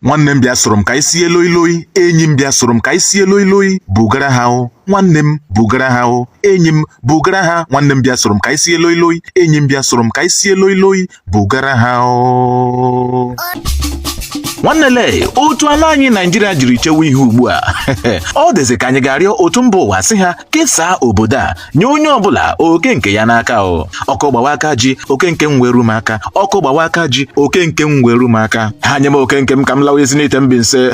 nwanne m bịa soro m ka anyị sie loi loi enyi m bịa soro m ka anyị sie loi loi bugara ha o nwanne m bugara ha o enyi m bugara ha nwanne m bịa soro m ka anyị sie loi loi enyi m bịa soro m ka anyị sie loi loi bugara ha o nwanne lee otu ala anyị naijiria jiri chewe ihu ugbu a ọ dịzị ka anyị ga-arịọ otu mba ụwa sị ha kesaa obodo a nye onye ọbụla oke nke ya n'aka o ọkụ gbawa aka ji oke nke m weru m aka ọkụ gbawa aka ji oke nke m weru m aka ha nye m oke nke m ka m lawa Ezinihitte Mbaise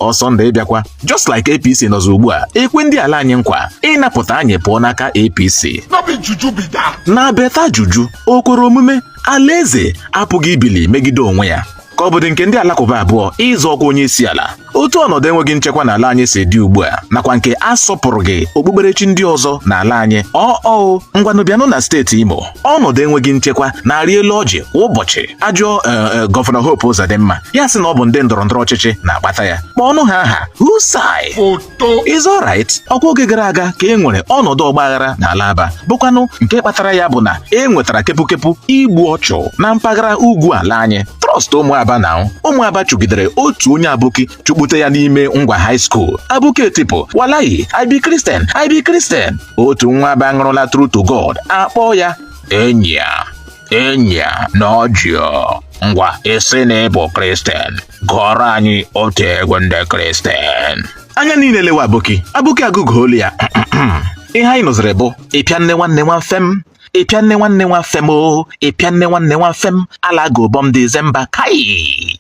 ọsọ ndụ ị bịakwa just like apc nọzọ ugbu a ekwe ndị ala anyị nkwa ịnapụta anyị pụọ n'aka apc No be juju be that. na beta juju o kwere omume alaeze apụghị ibili megide onwe ya ka ọ bụdị nke ndị alakụba abụọ ịzọ ọkwa onye isi ala otu ọnọdụ enweghị nchekwa n'ala anyị si dị ugbu a nakwa nke asọpụrụghị okpukperechi ndị ọzọ n'ala anyị ọọ ngwanụ bịanụ na steeti Imo ọnọdụ enweghị nchekwa na-arị elu ọjị kwa ụbọchị a jụọ e, e, gọvanọ Hope Uzodimma ya asị na ọ bụ ndị ndọrọ ndọrọ ọchịchị na-akpata ya kpọọnụ ha aha husai Is alright ọkwa oge gara aga ka e nwere ọnọdụ ọgbaghara n'ala Aba bụkwanụ nke kpatara ya bụ na e nwetara kepukepu igbu ọchụ na mpaghara ugwu ala anyị trust ụmụ Aba now ụmụ Aba chụgidere otu onye aboki chụkpute ya n'ime ngwa high school aboki etipụ walahi I be kristian I be kristian otu nwa aba ṅụrụla true to god akpọọ ya enyi a enyi a na ọjịọ ngwa ị sị na ị bụ kristian gụọrọ anyị otu egwu ndị kristian anya niile elewe aboki aboki agụgụ olu ya ihe anyị nụziri bụ ịpịa nne nwanne nwa mfe m ịpịa nne nwanne nwa mfe m o ịpịa nne nwanne nwa mfe m ala gobọm dizemba kai